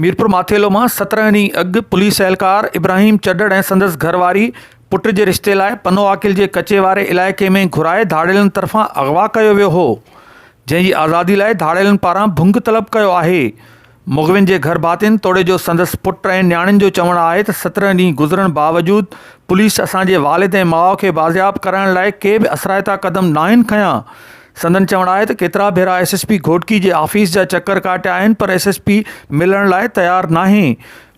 ميرپور ماٿيلو مان سترهن ڏينهن اڳ پوليس اهلڪار ابراهيم چڏڙ ۽ سندس گهر واري پٽ جي رشتي لاء پنو عاقل جي ڪچي واري علائقي ۾ گهرائي ڌاڙيلن طرفان اغوا ڪيو ويو هو جنهن جي آزادي لاء ڌاڙيلن پاران ڀنگ طلب ڪيو آهي مغوين جي گهر ڀاتين توڙي جو سندس پٽ ۽ نياڻين جو چوڻ آهي ته سترهن ڏينهن گذرڻ باوجود پوليس اسان جي والد ۽ ماء کي بازياب ڪرائڻ لاء ڪي به اثرائتا قدم ناهن کنيا سندن چوڻ آهي ته ڪيترا ڀيرا ايس ايس پي گهوٽڪي جي آفيس جا چڪر ڪاٽيا آهن پر ايس ايس پي ملڻ لاء تيار ناهي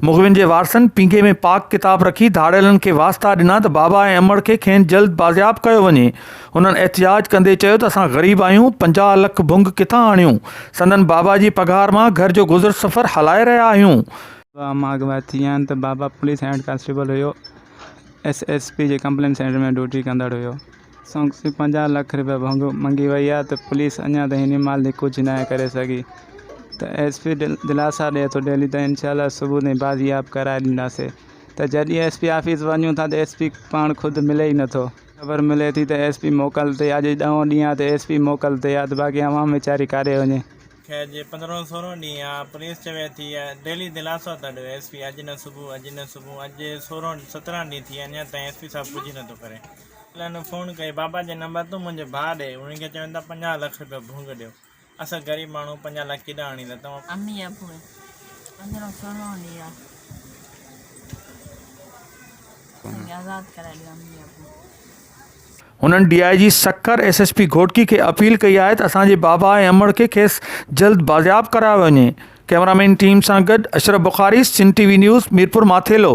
مغوين جي وارثن پينگهي ۾ پاڪ ڪتاب رکي ڌاڙيلن کي واسطا ڏنا ته بابا ۽ امڙ کي کين جلد بازياب ڪيو وڃي هنن احتجاج ڪندي چيو ته اسان غريب آهيون، پنجاهه لک ڀنگ ڪٿان آڻيون، سندن بابا جي پگهار مان گهر جو گذر سفر هلائي رهيا آهيون. بابا مان اڳ ڀائتي آهن ته بابا پوليس هيڊ ڪانسٽيبل هيو، ايس ايس پي جي ڪمپلين سينٽر ۾ ڊيوٽي ڪندڙ هيو، سان کان پنجاهه لک روپيا ڀنگ منگهي وئي آهي ته پوليس اڃا تائين هن مال تي ڪجهه ناهي ڪري سگهي ته ايس پي دلاسا ڏئي ٿو ڊيلي ته انشاء الله صبح تائين بازياب ڪرائي ڏينداسين ته جڏهن ايس پي آفيس وڃون ٿا ته ايس پي پاڻ خود ملي ئي نٿو. خبر ملي ٿي ته ايس پي موڪل تي آ، اڄ ڏهون ڏينهن آ ته ايس پي موڪل تي آ ته باقي عوام ويچاري ڪاڏي وڃي. خير جي پندرهون سورهون ڏينهن آ، پوليس چوي ٿي ته ڊيلي دلاسو ته ڏيو ايس پي اڄ نه صبح اڄ نه صبح، اڄ سورهون سترهن ڏينهن ٿي ويا اڃا تائين ايس پي صاحب ڪجهه نه ٿو ڪري. وڪيلن فون ڪئي بابا جي نمبر تون منهنجي ڀاء ڏي، انهن کي چوين ٿا پنجاهه لک رپيو ڀونگ ڏيو. اسان غريب ماڻهو پنجاهه لک ڪيڏانهن آڻيندا توهان. امي ابو پنجرو سهڻو لي آ اسان کي آزاد ڪرائي ڏيو امي ابو. هنن D I G Sukkur S S P Ghotki کي اپيل ڪئي آهي ته اسان جي بابا ۽ امڙ کي کيس جلد بازياب ڪرايو وڃي ڪئميرامين ٽيم سان گڏ Ashraf Bukhari Sindh T V news Mirpur Mathelo.